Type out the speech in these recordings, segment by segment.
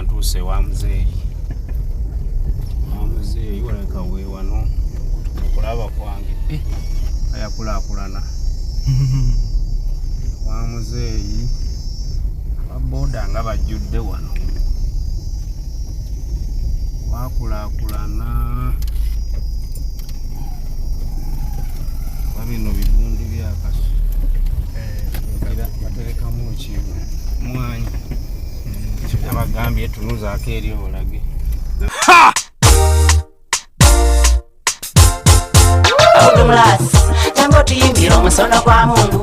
ntuuse wa muzeeyi wa muzeeyi walabika weewano okulaba kwange eh, ayakulaakulana wa muzeeyi baboda nga bajjudde wano wakulaakulana bino bibundi byakaso eh, baterekamu ki mwanyi Abagambye tunuzaako eri olage. Ha! Abdulasi, jambo tuyimbire omusono gwa mundu.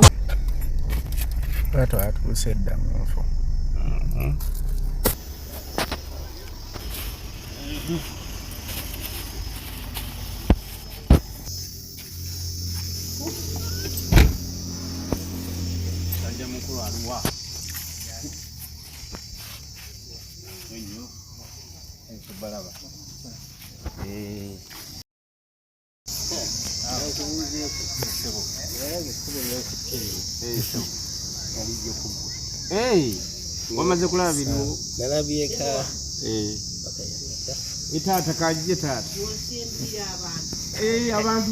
Watu atuuse dda mu nfu. Sajja mukulu aluwa. wamaze kulaba biriwo nalabyeka etaata kajje taata abantu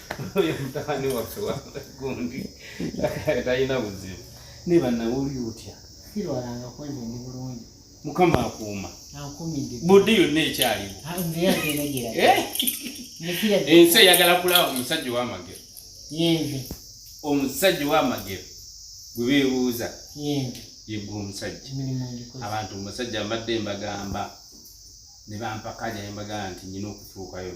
oyo mutabani waffe wagundi talina buzibu naye banawuli otya sirwalanga kwenze ndi bulungi mukama akuuma budde yonna ekyaliwo eh? ensi eyagala kulaba omusajja owamagero omusajja owamagero gwe beebuuza yegwe omusajja abantu omusajja mbadde mbagamba ne bampakaja ne mbagamba nti nyina okutuukayo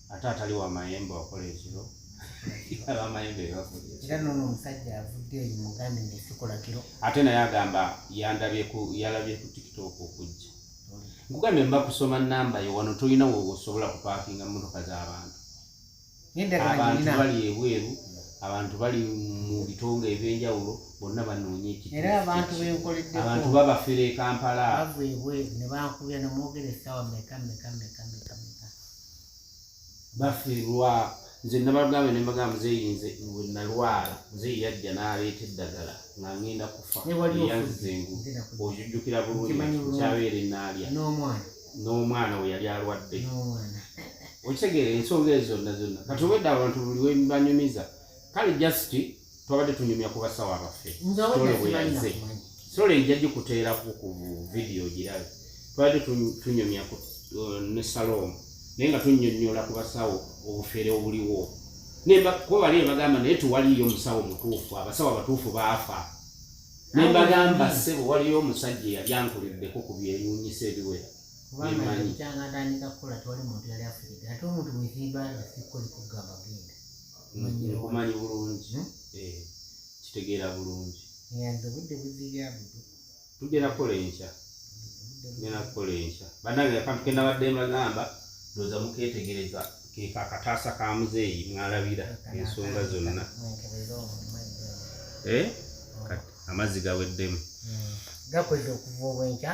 ate atali wa mayembe wakola ekiro abamayembe bebakola era nono omusajja avudde eyo mugambe nti sikola kiro ate naye agamba yandabye ku yalabye ku tiktok okujja nkugambye mba kusoma namba yo wano tolina wosobola kupaakinga motoka z'abantu abantu bali ebweru abantu bali mu bitonga ebyenjawulo bonna banoonya ekiabantu babafera ekampala bavu ebweru nebankubya nemwogera esawa meka meka meka meka bafiirwa nze nabagambye ne mbagamba muzeeyi nze we nalwala muzeeyi yajja n'aleeta eddagala nga ngenda kufa eyanzengu ojujjukira bulungi kyabeera enaalya n'omwana we yali alwadde okitegeera ensonga ezo zonna zonna kati obwedda abantu buli webanyumiza kale jasiti twabadde tunyumya ku basawo abaffe toloweyalize solo ejja gikuteerako ku vidiyo girabe twabadde tunyumya uh, ne saloomu naye nga tunyonyola ku basawo obufere obuliwo nebakobali ebagamba naye tewaliyo omusawo mutuufu abasawo abatuufu baafa nembagamba sebo waliyo omusajja eyali ankuliddeko ku byeyunyisa ebiwera emanyi nkumanyi bulungi hmm? eh, kitegeera bulungi nze budde buzibya budu tugenda kukola enkya tugenda kukola enkya banange akantu kenabadde mbagamba ndoza muketegereza keka akataasa ka muzeeyi mwalabira ensonga zonna eh? amazzi gaweddemu hmm. gakweza okuva obwenkya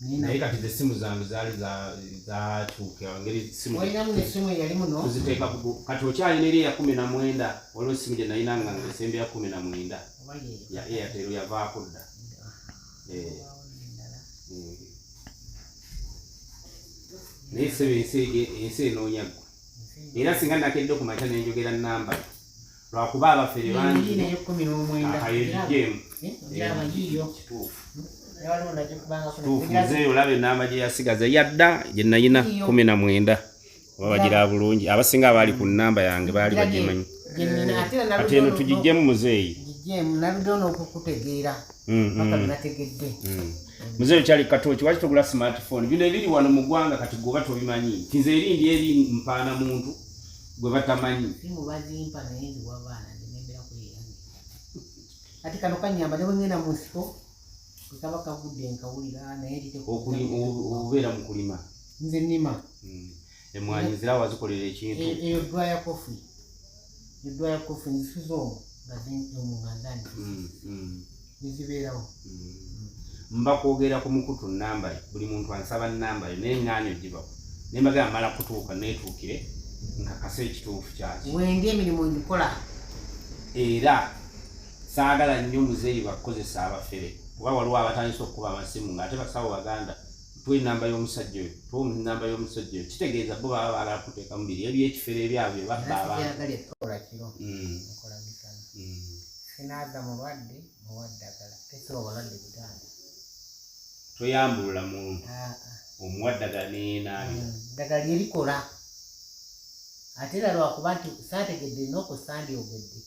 naye kati ze simu zange zaali zatuuka ngeri simuziteeka kati okyalina eri eya kumi na mwenda waliwo esimu gye nalina nga esembe ya kumi na mwenda ya airtel yavaako dda eh. eh. naye sebe ensi enoonya gwe era singa nakedde okumakya nenjogera namba lwakuba abafere bangi akayejijeemu nzeeyo olaba enamba gye yasigaza yadda gye nayina kumi na mwenda oba bagira bulungi abasinga abaali ku namba yange baali bagimanyi ate eno tugijjemu muzeeyi muzeeyo kyali katoki waki togula smartphone bino ebiri wano mu ggwanga kati goba tobimanyi nti nze eri ndi eri mpaana muntu gwe batamanyi simu bazimpa naye ndi wabaana ndinembera ku yange ati kano kanyamba ne bwengenda mu nsiko kaba kagudde nkawulira naye nditeokubeera mu kulima nze nima hmm. emwanyi zira wazikolera ekintu e, eyo dwaya kofi edwaya kofi nzisuza omu nga zimpi omu nga ndani hmm, hmm. nezibeerawo mm. mba kwogera ku mukutu namba yo buli muntu ansaba namba yo naye ngaani ogibawo naye mbagala mala kutuuka neetuukire nkakasa ekituufu kyaki wenge emirimu ngikola era saagala nnyo muzeeyi bakukozesa abafere kuba waliwo abatandisa okukuba amasimu ngaate basawo baganda tuwa enamba y'omusajja oyo tuwa enamba y'omusajja oyo kitegeeza bo baba baagala kuteeka mubiri ebyekifere ebyabwe babba abantu Sinaza mulwadde muwa ddagala tesiba balwadde butanda. Toyambulula muntu ah, ah. omuwa ddagala neyenaabira. Hmm, ddagala erikola ate era lwakuba nti saategedde noku sandi ogedde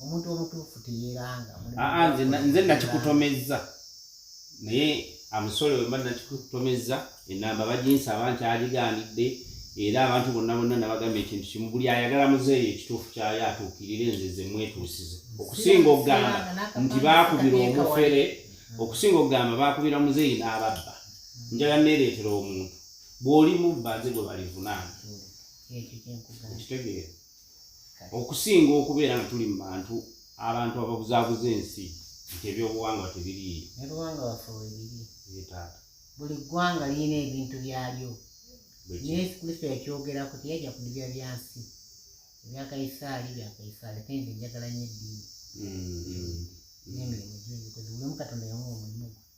omuntu omutuufu teyeranga. Ah, nze nakikutomezza. naye amusole wemba nakikutomezza enamba baginsaba nti agigaanidde era abantu bonna bonna nabagamba ekintu kimu buli ayagala muzeeyo ekituufu kyayo atuukirire nze ze mwetuusize okusinga okugamba nti baakubira omufere okusinga okugamba baakubira muzeeyi n'ababba njala neereetera omuntu bw'oli mubba nze gwe balivunaana mm. ekitegeera okusinga okubeera nga tuli mu bantu abantu ababuzaabuza ensi nti ebyobuwangwa tebiriiyo ebuwanga waffe webiri taata buli ggwanga lirina ebintu byalyo yesu kristo yakyogerako teyajja kulibya byansi ebyakaisaali byakaisaali ate nze njagala nyo eddiini mm-hmm. nemirimu gyebikoze buli omu katonda yamuwa omulimu gwe